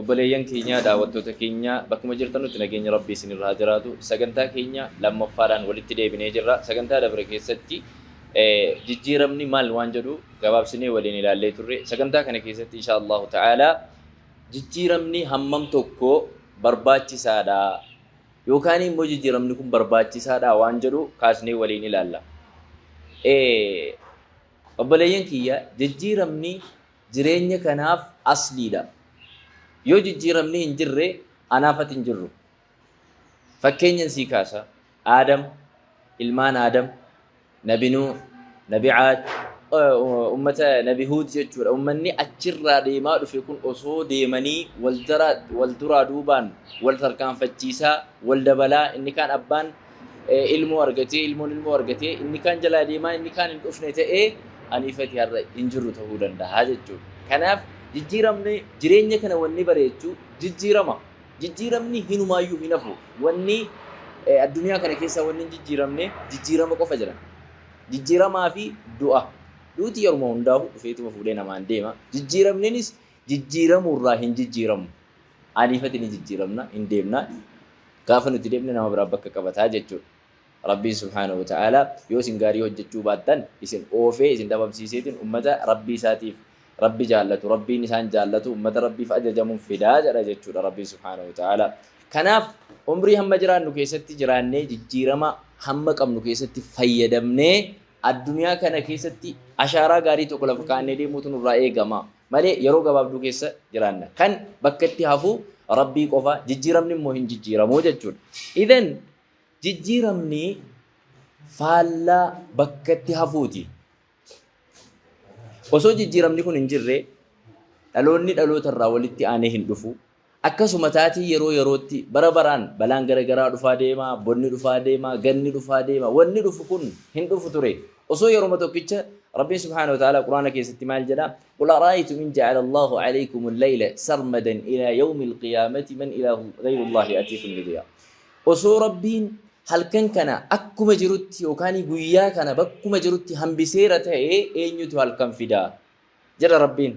Obboleeyyan keenyaa daawwattoota keenyaa bakkuma jirtanutti nageenyi Rabbii isin irra haa jiraatu. Sagantaa keenya lammaffaadhaan walitti deebinee jirra. Sagantaa dabre keessatti jijjiiramni maal waan jedhu gabaabsinee waliin ilaallee turre. Sagantaa kana keessatti inshaa Allahu ta'aalaa jijjiiramni hammam tokko barbaachisaadha yookaan immoo jijjiiramni kun barbaachisaadha waan jedhu kaasnee waliin ilaalla. Obboleeyyan kiyya jijjiiramni jireenya kanaaf asliidha. Yoo jijjiiramni hin jirre anaaf ati hin jirru. Fakkeenyan sii kaasa. Aadam, ilmaan Aadam, Nabi Nuuh, Nabi Aad, ummata Nabi Huud jechuudha. Ummanni achirraa deemaa dhufe kun osoo deemanii wal duraa duubaan wal tarkaanfachiisaa, wal dabalaa inni kaan abbaan ilmoo argatee ilmoon ilmoo argatee inni kaan jalaa deemaa inni kaan hin dhufne ta'ee aniifati har'a hin jirru ta'uu danda'a jechuudha. Kanaaf jijjiiramni jireenya kana wanni bareechuu jijjiirama. Jijjiiramni hinumaayyuu hin hafu. Wanni addunyaa kana keessaa wanni hin jijjiiramne jijjiirama qofa jira. Jijjiiramaa fi du'a. Duuti yeruma hundaa'u dhufeetuma fuudhee namaan deema. Jijjiiramninis jijjiiramuurraa hin jijjiiramu. Aniif ati ni jijjiiramna, hin deemna. Gaafa nuti deemne nama biraa bakka qabata jechuudha. Rabbiin subhaanahu wa ta'aalaa yoo isin gaarii hojjechuu baattan isin oofee isin dhabamsiiseetiin ummata Rabbii isaatiif Rabbi jaallatu, Rabbiin isaan jaallatu, ummata Rabbiif ajajamuun fida jedha jechuudha Rabbiin subhaanahu wa ta'aalaa. Kanaaf umrii hamma jiraannu keessatti jiraannee jijjiirama hamma qabnu keessatti fayyadamnee addunyaa kana keessatti ashaaraa gaarii tokko lafa kaa'annee deemuutu nurraa eegama. malee yeroo gabaabduu keessa jiraanna. Kan bakkatti hafu Rabbii qofa, jijjiiramni immoo hin jijjiiramu jechuudha. Idhan jijjiiramni faallaa bakkatti hafuuti. Osoo jijjiiramni kun hin jirre dhaloonni dhaloota irraa walitti aanee hin dhufu. Akkasuma taatii yeroo yerootti, bara baraan, balaan gara garaa dhufaa deema, bonni dhufaa deema, ganni dhufaa deema, wanni dhufu kun hin dhufu ture. Osoo yeroma tokkicha Rabbiin subhaanahu wa ta'aalaa Qur'aana keessatti maal jedha, Qul ara'aytum in ja'ala Allaahu 'alaykum al-layla sarmadan ilaa yawmi al-qiyaamati man ilaahu ghayru Allaahi ya'tiikum bidiyaa. Osoo Rabbiin halkan kana akkuma jirutti yookaan guyyaa kana bakkuma jirutti hambiseera ta'ee eenyutu halkan fida? jedha Rabbiin.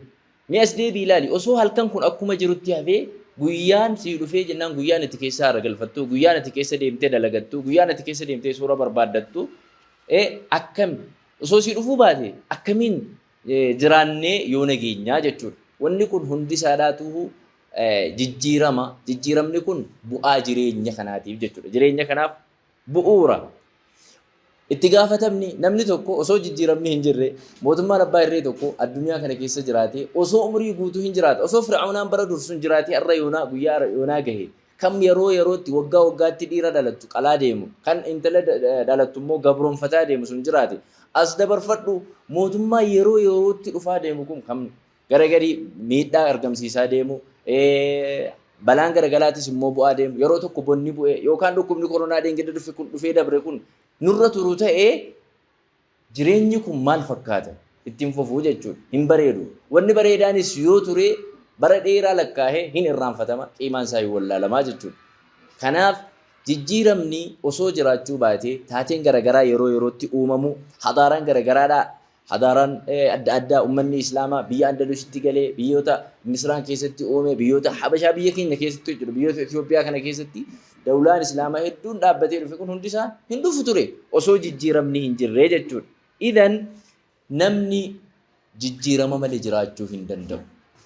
Mee as deebi'i ilaali, osoo halkan kun akkuma jirutti hafee, guyyaan sii dhufee jennaan guyyaan ati keessa haara galfattu, guyyaan ati keessa deemtee dalagattu, guyyaan ati keessa deemtee suura barbaaddattu akkami? Osoo sii dhufuu baate akkamiin jiraannee yoona geenyaa jechuudha. Wanni kun hundi isaadhaatuu jijjiirama, jijjiiramni kun bu'aa jireenya kanaatiif jechuudha. Jireenya kanaaf Bu'uura. Itti gaafatamni namni tokko osoo jijjiiramni hin jirre mootummaan abbaa irree tokko addunyaa kana keessa jiraatee osoo umrii guutuu hin jiraata osoo fir'aawnaan bara dursuun jiraatee arra yoonaa guyyaa arra yoonaa gahe kam yeroo yerootti waggaa waggaatti dhiira dhalattu qalaa deemu kan intala dhalattu immoo gabroonfataa deemu sun jiraate as dabarfadhu mootummaa yeroo yerootti dhufaa deemu kun kam gara gadi miidhaa argamsiisaa deemu, balaan garagalaatis immoo bu'aa deemu, yeroo tokko bonni bu'e yookaan dhukkubni koronaa dheengadda dhufe kun dhufee dabre kun nurra turu ta'ee jireenyi kun maal fakkaata ittiin fufuu jechuudha. Hin bareedu. Wanni bareedaanis yoo ture bara dheeraa lakkaa'ee hin irraanfatama, qiimaan isaa hin wallaalamaa jechuudha. Kanaaf jijjiiramni osoo jiraachuu baatee taateen garagaraa yeroo yerootti uumamu hadaaraan garagaraadhaa Hadaaraan adda addaa ummanni Islaamaa biyya Andalusitti galee, biyyoota Misraan keessatti uume, biyyoota Habashaa biyya keenya keessatti hojjetu, biyyoota Itoophiyaa kana keessatti dawlaan Islaamaa hedduun dhaabbatee dhufe kun hundi isaa hin dhufu ture osoo jijjiiramni hin jirree jechuudha. Idan namni jijjiirama malee jiraachuu hin danda'u.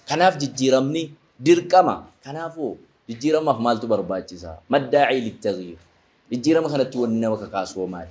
Kanaaf jijjiiramni dirqama. Kanaafuu jijjiiramaaf maaltu barbaachisa? Maddaa'ii littaghiir. Jijjiirama kanatti wanni nama kakaasu hoo maali?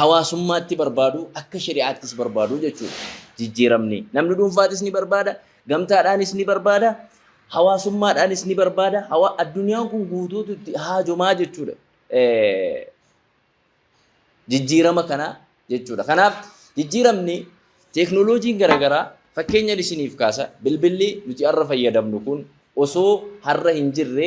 hawaasummaatti barbaadu, akka shari'aattis barbaadu jechuudha. Jijjiiramni namni dhuunfaatis ni barbaada, gamtaadhaanis ni barbaada, hawaasummaadhaanis ni barbaada. Hawa addunyaan kun guutuutu itti haajomaa jechuudha. Jijjiirama kana jechuudha. Kanaaf jijjiiramni teeknooloojiin garaagaraa fakkeenyan isiniif kaasa bilbilli nuti har'a fayyadamnu kun osoo har'a hin jirre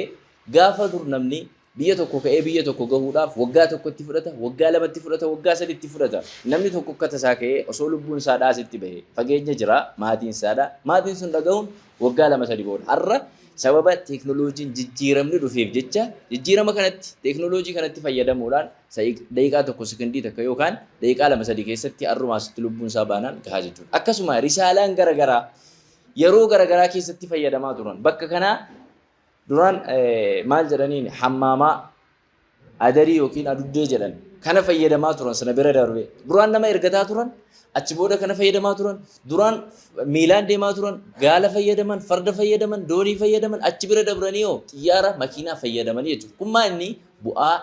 gaafa dur namni Biyya tokko ka'ee biyya tokko gahuudhaaf waggaa tokko itti fudhata, waggaa lama itti fudhata, waggaa sadi itti fudhata. Namni tokko akka tasaa ka'ee osoo lubbuun isaa dhaasitti bahe fageenya jira, maatiin isaa dha. Maatiin sun dhagahuun waggaa lama sadi booda. Har'a sababa teeknooloojiin jijjiiramni dhufeef jecha jijjiirama kanatti, teeknooloojii kanatti fayyadamuudhaan daqiiqaa tokko sekondii takka yookaan daqiiqaa lama sadi keessatti har'uma asitti lubbuun isaa baanaan gahaa jechuudha. Akkasuma risaalaan gara garaa yeroo gara garaa keessatti fayyadamaa turan. Bakka kanaa Duraan maal jedhaniin hammaamaa adarii yookiin aduddee jedhan kana fayyadamaa turan sana bira darbe duraan nama ergataa turan achi booda kana fayyadamaa turan duraan miilaan deemaa turan gaala fayyadaman farda fayyadaman doonii fayyadaman achi bira dabranii hoo xiyyaara makiinaa fayyadamanii jechuudha kun maa inni bu'aa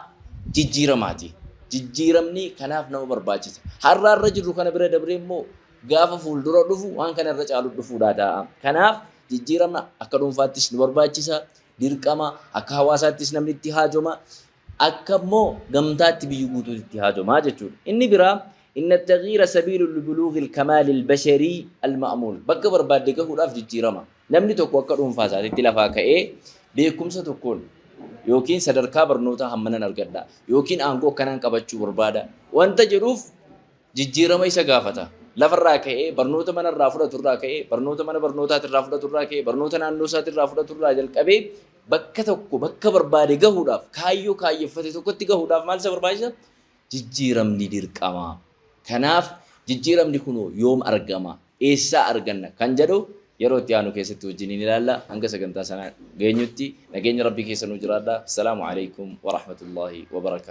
jijjiiramaati jijjiiramni kanaaf nama barbaachisa har'aa irra jirru kana bira dabree immoo gaafa fuuldura dhufu waan kana irra caalu dhufuudhaa ta'a. Kanaaf jijjiirama akka dhuunfaattis nu barbaachisa, dirqama akka hawaasaattis namni itti haajoma, akka immoo gamtaatti biyyi guutuutti itti haajoma jechuudha. Inni biraa inna taghiira sabiilu libuluughil kamaalil basharii alma'muul bakka barbaadde gahuudhaaf jijjiirama. Namni tokko akka dhuunfaa isaatitti lafaa ka'ee beekumsa tokkoon yookiin sadarkaa barnootaa hammanan argadha yookiin aangoo akkanaan qabachuu barbaada wanta jedhuuf jijjiirama isa gaafata. Lafa irraa ka'ee, barnoota mana irraa fudhatu irraa ka'ee, barnoota mana barnootaati irraa fudhatu irraa ka'ee, barnoota naannoo isaati irraa fudhatu irraa jalqabee bakka tokko bakka barbaade gahuudhaaf kaayyoo kaayyeffate tokkotti gahuudhaaf maal isa barbaachisa? Jijjiiramni dirqama. Kanaaf jijjiiramni kunoo yoom argama? Eessaa arganna? Kan jedhu yeroo itti aanu keessatti wajjiniin ilaalla. Hanga sagantaa sana geenyutti nageenya Rabbii keessa nuu jiraadha. Salaamu alaikum wa rahmatullahi wa barakaatuh.